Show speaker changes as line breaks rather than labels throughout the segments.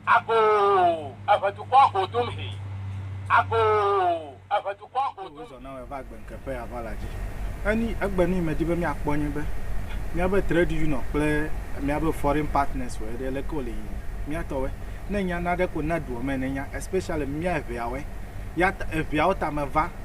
Agoo, eve dukɔ go dum he. Agoo, eve dukɔ go dum. Wozɔ na wɔ va gbe nke ƒe aʋa la dzi. Eni egbe ni me di be mia kpɔ nye be mia be trade union kple mia be foreign partners wɔ eɖe leke wole yiyim. Mia tɔ wɔ ne nya na ɖe ko na duɔ me ne nya especially mia eveawe ya ta eveawo ta me va.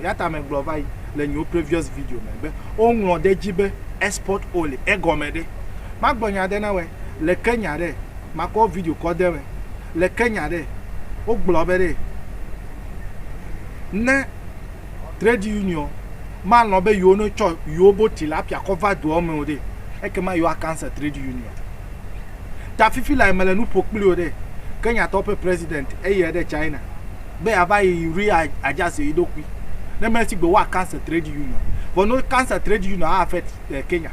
Eya ta megblɔ va yi le nyewo previous video me be, woŋlɔ ɖe edzi be export only. Egɔme ɖe? Magblɔ nya ɖe na wɔe le Kenya ɖe, makɔ video kɔ de me. Le Kenya ɖe, wogblɔ be ɖe ne trade union malɔ̃ be yewo ne tsɔ yewo bo tilapia kɔ va doa me o ɖe, ekema yewoa cancel trade union. ta fifi lae mele nu ƒo kpli wò ɖe. Kenyatɔwo ƒe president eyɛ ɖe China be yava yi re adjust yi ɖokui ne me sigbe woa cancel trade union vɔ ne wo cancel trade union a affect Kenya.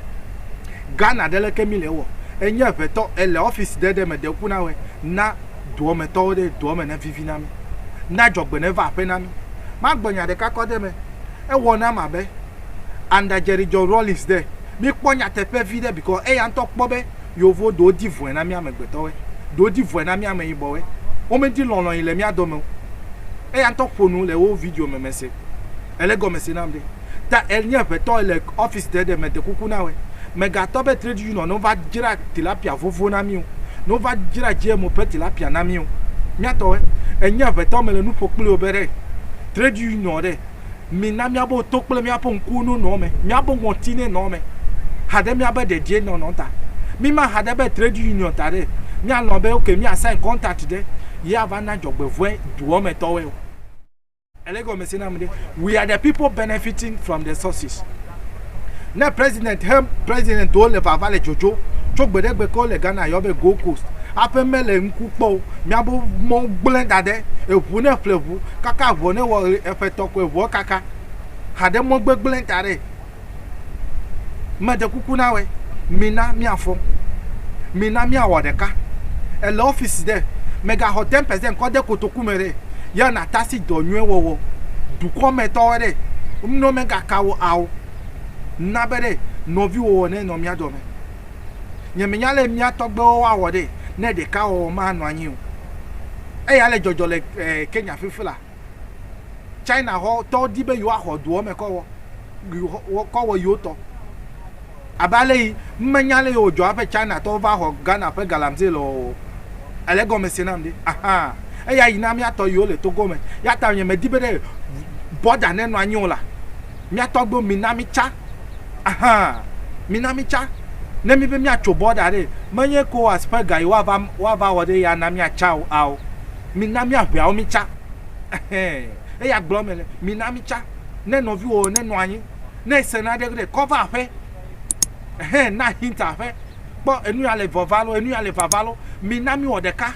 Ghana ɖe leke mi le ewɔ enye ŋɛtɔ ele office ɖe ɖe me de ŋku na wɛ na doɔ me tɔwo ɖe doɔ me ne vivi na mi na dzɔgbe ne va aƒe na mi. Ma gblɔ nya ɖeka kɔ ɖe me ewɔ nam abe under Jerry John Rawlings ɖe mi kpɔ nyateƒe vi ɖe because eya ŋtɔ kpɔ be Yovo ɖewo di vɔ̃e na mí amegbetɔwoe, ɖewo di vɔ̃e na mí ameyibɔwoe. Womedi lɔlɔ̃ yi le mía dɔ me o. Eya ŋutɔ ƒo nu le wo video me mese. Ele gɔme se nam ɖe. Ta enye aƒetɔ le ɔfisi ɖe ɖe mede kuku na wɔe. Megatɔ be trade union nova dzra tilapia vovo na mí o. Nova dzra GMO ƒe tilapia na mí o. Mía tɔwoe. Enye aƒetɔ mele nu ƒo kpli wò be ɖe trade union ɖe. Mina míabe to kple míaƒe ŋkuwo nonɔ eme, míabe ŋɔti nenɔ eme haɖe míabe dedienɔnɔ ta. Míma ha ɖe be trade union ta ɖe míalɔ̃ be ok mía sign contract ɖe ye ava na dzɔgbevɔ̃e doa me tɔwoe o. Ele egɔme se nam ɖe, we are the people benefiting from the sources. Ne president he president wo le vava le dzodzo tso gbe ɖe gbe ke wole Ghana yɔ be Gold Coast aƒe mele ŋku kpɔ o miabo mɔ gblẽ da ɖe eŋu ne ƒle ŋu kaka ŋu ne wɔ ɣe eƒe tɔ ko eŋua kaka haɖe mɔ gbegblẽ da ɖe mede kuku na wɛ mina miafɔ mina miawɔ ɖeka ele office ɖe megaxɔ 10 percent kɔ de kotoku ku me ɖe, ya natasi dɔ nyuie wɔwɔ dukɔ me tɔwɔe ɖe, ŋnɔ me ga ka wo ao na be ɖe nɔvi wo wɔ nɛ nɔ mia dɔ me. Nye me nya le mia tɔgbe wo wa wɔ ɖe ne ɖeka wɔwɔ ma nɔ anyi o. Eya le jɔjɔ le Kenya fifila. China xɔ tɔwo di be yewo axɔ doɔ me kɔ wɔ, kɔ wɔ yewo tɔ. Abe aleyi menya aleyi wòdzɔ haƒe China tɔwo va xɔ Ghana ƒe Galamsey lɔ o. Èle egɔme se nam ɖe? Ahaa. Eya yi na míatɔ yiwo le Togo me. Eyata nye medi be ɖe bɔda nenɔ anyi o la, míatɔ gbɔ mi na mítsa. Ahaa. Mi na mítsa. Ne míbe míatso bɔda ɖe, menye Ecowas ƒe ga yi woava woava wɔ ɖe eya na míatsa o. Ao. Mi na míaŋeawo mítsa. Ɛhɛɛ. Eya gblɔm mele. Mi na mítsa. Ne nɔviwòwo nenɔ anyi. Ne ese naɖe ɖe kɔ va aƒe, hɛn na hint aƒe. Kpɔ enu ya le vɔva lo, enu ya le vava lo. Mi na mi wɔ ɖeka.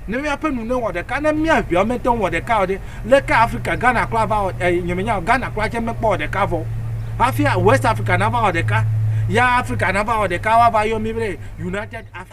Ne mi aƒe nu ne wɔ ɖeka. Ne mia via me te ŋu wɔ ɖeka o ɖe, leke Afrika, Ghana kura va wɔ, e, nye me nya o, Ghana kura tse me kpɔ wɔ ɖeka vɔ. Hafia West Afrika na va wɔ ɖeka. Ya Afrika na va wɔ ɖeka wa va yɔ mi be United Africa.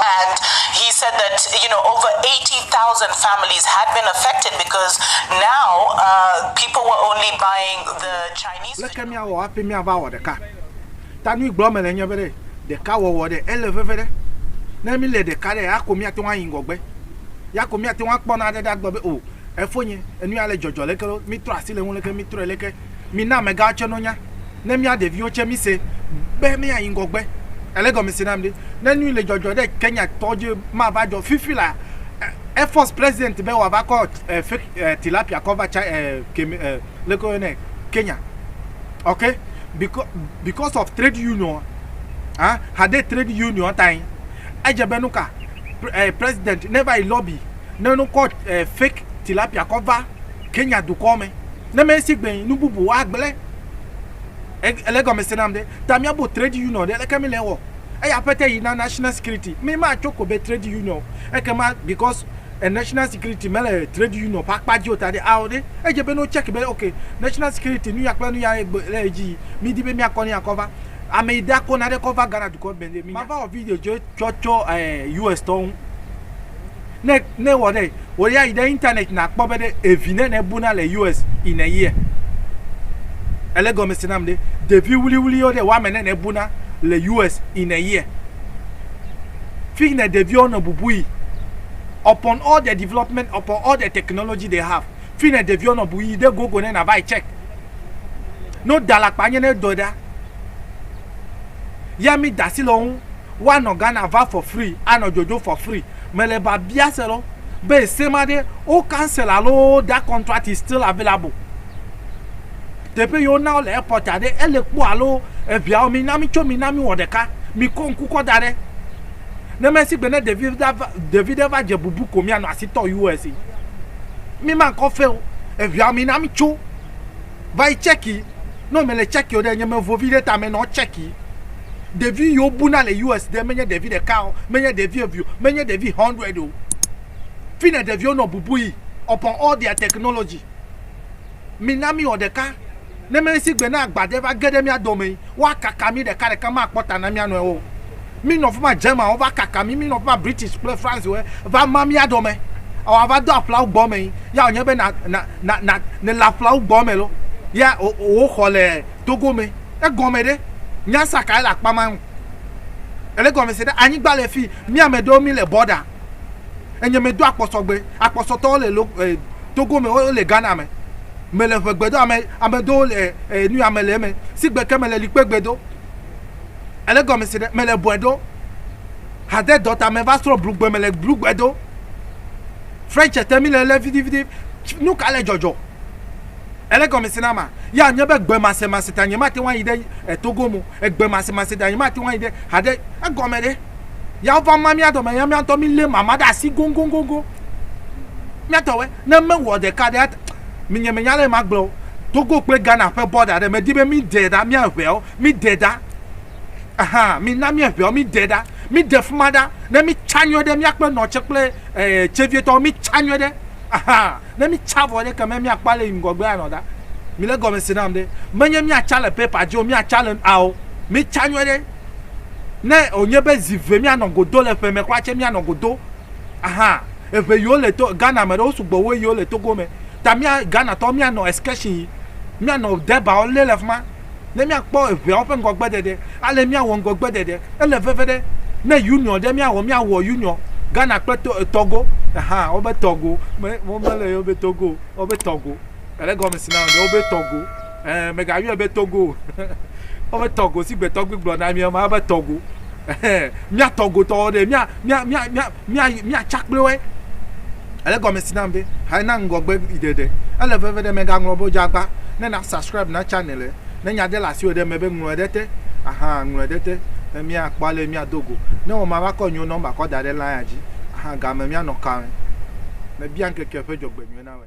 And he said that you know over eighty thousand families had been affected because now people were only buying the Chinese. Leke míawɔ hafi míava wɔ ɖeka? Ta nui gblɔm mele nye be ɖe ɖeka wɔwɔ ɖe ele veve ɖe. Ne míle ɖeka ɖe, ya ko míate ŋu ayi ŋgɔgbe. Ya ko míate ŋu akpɔ nane ɖe agblɔ be o, efonye, enu ya le dzɔdzɔ leke ɖo, mítrɔ asi le eŋu leke, mítrɔe leke. Mina amegãwo tsɛ nonya, ne mía ɖeviwo tsɛ mise be míayi ŋgɔgbe. Èle egɔme se nam ɖe? Ne nu yi le dzɔdzɔ ɖe Kenyatɔwo dzi mava dzɔ fifi la, Air Force President be wòava kɔ fake tilapia kɔ va Tsa leke woyɔnɛ? Kenya. Ok. Because of trade union a? Hade trade union tae. Edze be nuka President neva yi lobby ne wokɔ fake tilapia kɔ va Kenya dukɔ me. Ne mesi gbe nu bubu agble ele gɔmese nam ɖe ta mia bo trade union ɖe leke mi le wɔ eya pete yi na national security mi ma tso ko be trade union eke ma because e national security me le trade union pa kpa jio ta ɖe ao ɖe edze be no check be ok national security nu ya kple nu ya egbe le edzi yi mi di be mia kɔ ne ya kɔ va ame yi da ko na ɖe kɔ va Ghana dukɔ be mi ma va wɔ video dze tsɔ tsɔ eh US tɔ ŋu. Ne ne wɔ ɖe wɔ ya yi ɖe internet na kpɔ be ɖe evi ne ne bona le US in a year. Ele gɔme se nam ɖe ɖevi wuli wuli yo ɖe wa me ne ne bona le US in a year. Fig ne ɖevi wo nɔ bubu yi upon all the development upon all the technology they have. Fig ne ɖevi wo nɔ bu yi ɖe gogo ne na va yi check. No da la kpa nye ne dɔ da. Ya mi dasi le wo Woanɔ Ghana va for free, anɔ dzodzo for free. Mele biabia se lɔ be ese ma ɖe wo cancel alo that contract is still available. Teƒe yi wo na wo le airport a ɖe ele kpɔ alo eŋiawo mi na mi tso mi na mi wɔ ɖeka. Mi kɔ ŋku kɔ da ɖe. Ne me sigbe ne ɖevi ɖa va ɖevi ɖe va dze bubu ko mia nɔ asi tɔ US. Mi ma kɔ fe o. Eŋiawo mi na mi tso. va yi tsɛki. Ne ame le tsɛki o ɖe, nye me vo viɖe ta me nɔ tsɛki. Ɖevi yi wo buna le US ɖe, menye ɖevi ɖeka o, menye ɖevi eve o, menye ɖevi hundred o. Fine ɖeviwo nɔ bubu yi upon all their technology. Mi na mi wɔ ɖeka. Ne mi si gbe ne agba ɖe va ge ɖe mia dome yi, woa kaka mi ɖeka ɖeka, ma kpɔ ta na mia nɔewo o. Mí nɔ fima German wo va kaka mí, mí nɔ fima British kple France wo va ma mía dɔ me. Ao a va do aƒla wo gbɔ me yi, ya o nye be na na na na ne le aƒla wo gbɔ me lo, ya o wo xɔ le Togo me. E gɔme ɖe, nya sa ka ele akpa ma ŋu. Ele gɔme se ɖe anyigba le fi mí ame ɖewo mí le border. Enye me do akpɔsɔ gbe, akpɔsɔ tɔwo le lo eh, Togo me wo le Ghana me. Me le ʋegbe do ame ame ɖewo le eh, nu ya me le eme. Sigbe ke me le likpe gbe do. Ele gɔme se ɖe, mele bɔe ɖo. Hade dɔ ta me va srɔ̃ blugbe, mele blugbe ɖo. French te mi le le vidividi. Nu ka le dzɔdzɔ? Ele gɔme se na ma. Ya nye be gbe mase mase ta nye mate ŋu yi ɖe eh, Togo mo. Egbe mase mase ta nye mate ŋu yi ɖe hade egɔme ɖe. Ya va ma mia dɔme ya mia ŋutɔ mi le mama ɖe asi gongongongo. Mia tɔwe ne me wɔ ɖeka ɖe mi nye me nya le ma gblɔ. Togo kple Ghana ƒe bɔda ɖe me di be mi de ɖa mia ʋe o. Mi ɖe ɖa, aha, mi na mi eŋɛɔ, mi ɖe ɖa, mi ɖe fima ɖa, ne mi tsa nyuiɔ ɖe mia kple nɔ tse kple ɛɛ tseviɛ tɔwo, mi tsa nyuiɔ ɖe, aha, ne mi tsa vɔ ɖe ke mɛ mia kpɔ ale yi ŋgɔgbea nɔ ɖa. Mi le gɔme se nam ɖe, me nye mia tsa le paper dzi o, mia tsa le ao, mi tsa nyuiɔ ɖe, ne o nye be zi ve mia nɔ godo le ƒe mɛ kɔa tse mia nɔ godo, aha, eŋɛ yi o le to Ghana mɛ ɖe o sugbɔ wu eyi o le Togo mɛ, ta mia Ghana tɔwo mia nɔ excursion yi, mia nɔ Dɛbaɔ le le fima. ne míakpɔ eŋeawo ƒe ŋgɔgbeɖeɖe, ale míawɔ ŋgɔgbeɖeɖe. Ele veve ɖe ne Union ɖe míawɔ, míawɔ Union, Ghana kple to, Togo, ɛhã, wobe Togo, me, womele yɔɛ be Togo o, wobe Togo, ele egɔme si na wò be wobe Togo, ɛɛ, mègayɔɛ be Togo o, wobe Togo, si gbe tɔgbi gblɔ na mí ema, wobe Togo. Míatɔ gotɔwo ɖe, mía, mía, mía, mía, mía, míatsa kple woe. Ele gɔme si nam be, ha na ŋgɔgbe yi ɖeɖe. Ele veve ɖe mègaŋlɔ be wodze agba. Ne na subscribe na channel e. Ne nya de le asiwò ɖe eme be ŋlɔe ɖe te. Ahaa, ŋlɔe ɖe te. Ne míakpɔ ale míado go. Ne wò ma va kɔ nyo na wo mba kɔ da ɖe line-a dzi. Ahaa, game míanɔ kaoe. Mebia ŋkeke ƒe dzɔgbenyuie na wòe.